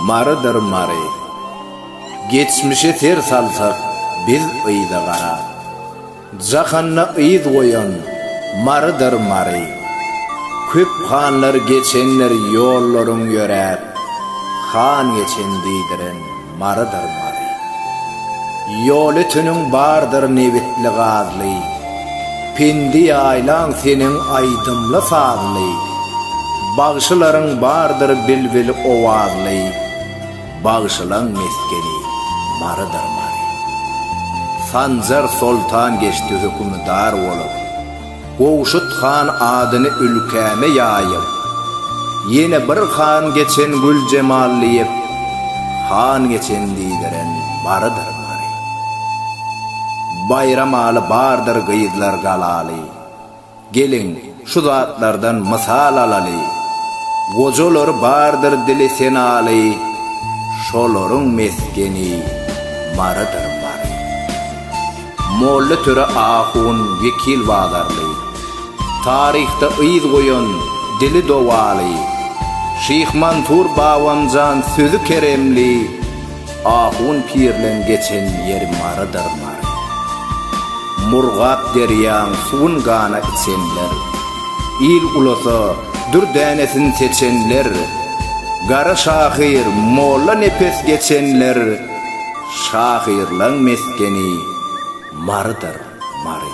Marydyr Mary. Geçmişe ser salsak biz yza garap. Jahanda yz goýan Marydyr Mary. Köp hanlar geçendir ýollaryň ýöräp. Han geçen diýdiren Marydyr Mary. Ýol öteniň bardyr nebitli-gazly, Pendi ýaýlaň seniň aýdymly-sazly, Bagşylaryň bardyr bilbil owazly, Bagşylaň mesgeni Marydyr Mary. Sanjar soltan geçdi hökümdar bolup, Gowşut han adyny ülkäme ýaýyp, ýene bir han geçen Güljemal diýip, han geçen diýdiren barydyr bary. Baýramaly bardyr gyzlar galaly. Geliň, şu zatlardan mysal alaly. Gojalary bardyr dili senaly, şolaryň mesgeni Marydyr bary. Molla Töre ahun Wekil Bazarly, Taryhda yz goýan dili dowaly, Şyh Mansur Babanjan sözi keremli, Ahun pirleň geçen ýeri Marydyr Mary. Murgap derýaň suwun gana içenler, Il ulasa dür dänesin seçenler, Gara şahyr Molla Nepes geçenler, Şahyrlaň mesgeni Marydyr, Mary.